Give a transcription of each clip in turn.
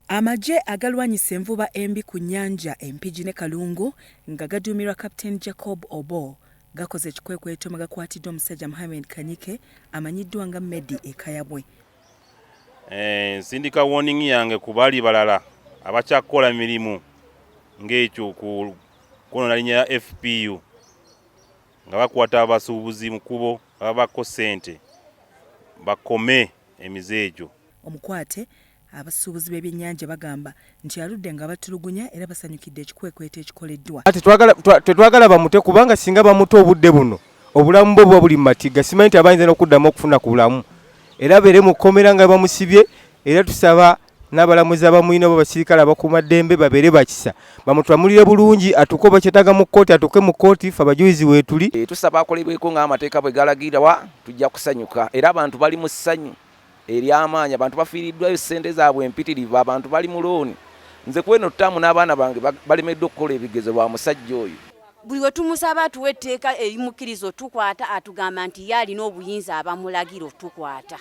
Amagye agalwanyisa envuba embi ku nnyanja e Mpigi ne Kalungu nga gaduumirwa Captain Jacob Obo gakoze ekikwekweto mwe gakwatidde omusajja Mohammed Kanyike amanyiddwa nga Medi e Kayabwe. Eh, nsindika warning yange ku bali balala abakyakukola mirimu ng'ekyo kwonoona linya ya FPU nga bakwata abasuubuzi mu kubo ababako ssente bakome emize egyo. Omukwate, Abasuubuzi b'ebyennyanja bagamba nti aludde nga batulugunya era basanyukidde ekikwekweto ekikoleddwa. Tetwagala bamute kubanga singa bamuta obudde buno obulamu bwe buba buli mu matigga, simanyi nti abayinza n'okuddamu okufuna ku bulamu era beere mu kkomera nga bamusibye era tusaba n'abalamuzi abamulina oba basirikale abakuuma ddembe babeere bakisa bamutwamulire bulungi atuuke oba kyetaaga mu kkooti atuuke mu kkooti fe abajulizi weetuli. Eh, tusaba akolebweko ng'amateeka bwe galagira wa tujja kusanyuka era abantu bali mu ssanyu. ery'amaanyi, abantu bafiiriddwayo ssente zaabwe mpitirivu, abantu bali mu looni, nze kweno ttaamu n'abaana bange balemeddwa okukola ebigezo lwa musajja oyo. Buli we tumusaba atuwe etteeka erimukkiriza otukwata atugamba nti ye alina obuyinza abamulagira otukwata.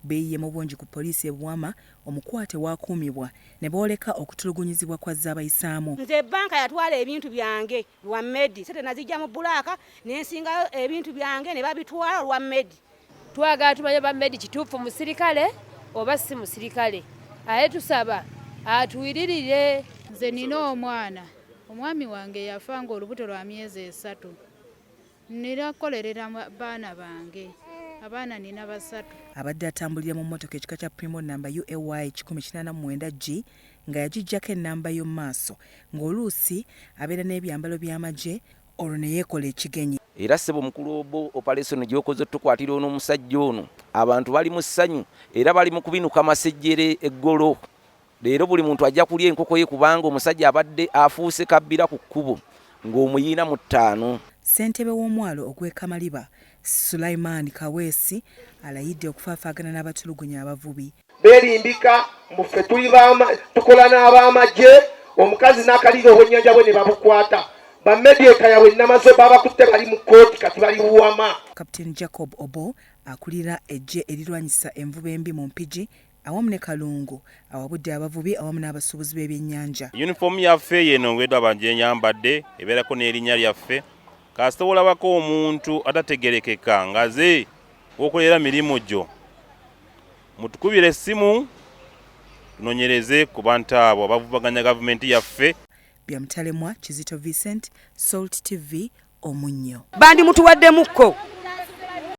Beeyiye mu bungi ku poliisi e Buwama, omukwate w'akuumibwa ne booleka okutulugunyizibwa kw'azze abayisaamu. Nze bbanka yatwala ebintu byange lwa Medi, ssente naziggya mu bbulaaka ne nsingayo ebintu byange ne babitwala olwa Medi. Twagala tumanye oba Medi kituufu musirikale oba si musirikale, aye tusaba atuwiririre. Nze nina omwana omwami wange yafa nga olubuto lwa myezi esatu nina kukolerera baana bange abaana nina basatu. Abadde atambulira mu mmotoka ekika kya Primo nnamba UAY kikumi kinaana mu mwenda G nga yagiggyako ennamba y'omu maaso ng'oluusi abeera n'ebyambalo by'amagye olwo ne yeekola ekigenyi. Era ssebo mukulu Obo, opalesoni gy'okoze otukwatira ono omusajja ono, abantu bali mu ssanyu era bali mu kubinuka masejjere eggolo. Leero buli muntu ajja kulya enkoko ye kubanga omusajja abadde afuuse kabbira ku kkubo ng'omuyiina mu ttaano. Ssentebe w'omwalo ogw'e Kamaliba, Sulaiman Kaweesi alayidde okufaafaagana n'abatulugunya abavubi. belimbika mbu ffe tuli bama tukola n'abamagye omukazi n'akaliira obwennyanja bwe ne babukwata bamedieka yabwe namazo babakutte bali mu kkooti kati bali buwama captain jacob obo akulira eggye erirwanyisa envuba embi mu mpigi awamu ne kalungu awabudde abavubi awamu n'abasuubuzi b'ebyennyanja yunifoomu yaffe yeno ngwedwa abanjenyambadde ebeerako n'erinnya lyaffe kasita olabako omuntu atategerekeka ngaze wokolera mirimu gyo mutukubire essimu tunonyereze ku bantu abo abavubaganya gavumenti yaffe bya mutalemwa kizito vincent salt tv omunnyo bandi mutuwaddemukko